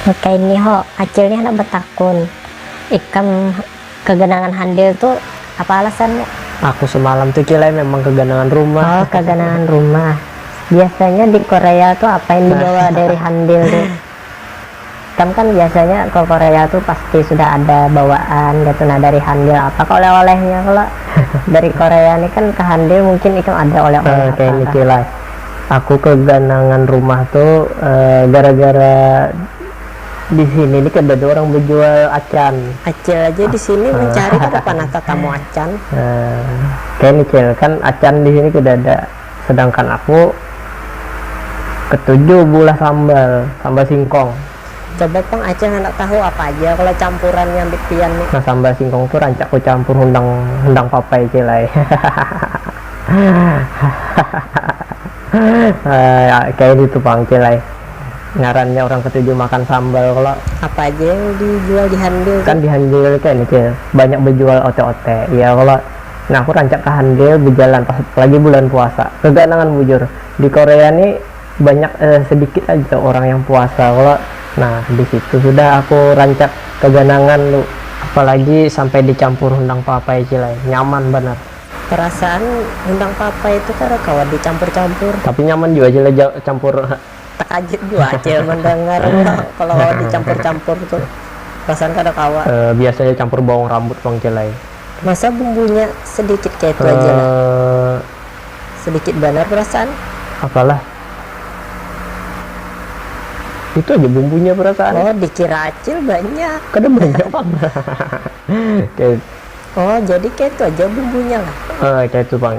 Wakaini ho, Acil nih handak batakun, ikam kaganangan handil tu apa alasannya? Aku samalam tu Cil ai memang kaganangan rumah. Oh kaganangan rumah, biasanya di Korea tu apa yang dibawa dari handil tu? Ikam kan biasanya ke Korea tu pasti sudah ada bawaan kaitu nah dari Handil apa kah oleh-olehnya kalo dari Korea ni kan ke Handil mungkin ikam ada oleh-oleh apa kah. Kayni kilat, aku keganangan rumah tu gara-gara di sini ni kadada orang bejual acan. Acil aja di sini mencari kada panah tetamu acan. Kayni cil, kan acan di sini kadada. Sedangkan aku ketuju beulah sambal, sambal singkong. Coba pang acil handak tahu apa aja kalo campuran nya ambit pian ni. Nah sambal singkong tu rancak ku campur hundang hundang papai cil ai hahahahahahaha kaya gitu pang cil ai ngaran nya urang ketuju makan sambal kalo. Apa aja yang dijual di handil tu? Kan di handil kene cil banyak bejual ote-ote iya kalo. Nah aku rancak ka handil bejalan pas lagi bulan puasa. Keganangan bujur. Di Korea ni banyak eh sedikit aja orang yang puasa kalo. Nah disitu sudah aku rancak keganangan tu. Apalagi sampai dicampur hundang papai cil ai. Nyaman banar. Perasaan hundang papai tu kada kawa dicampur-campur. Tapi nyaman jua cil ai campur. Tekajut jua cil mendengar kalo dicampur-campur tu. Perasaan kada kawa. Biasa ja campur bawang rambut pang cil ai. Masa bumbunya sedikit kaya itu aja lah. Eh. Sedikit banar perasaan. Apalah. Itu aja bumbunya perasaan. Oh, dikira acil banyak. Kada banyak pang. Kaya Oh, jadi kaya itu aja bumbunya lah. Eh, kaya itu pang.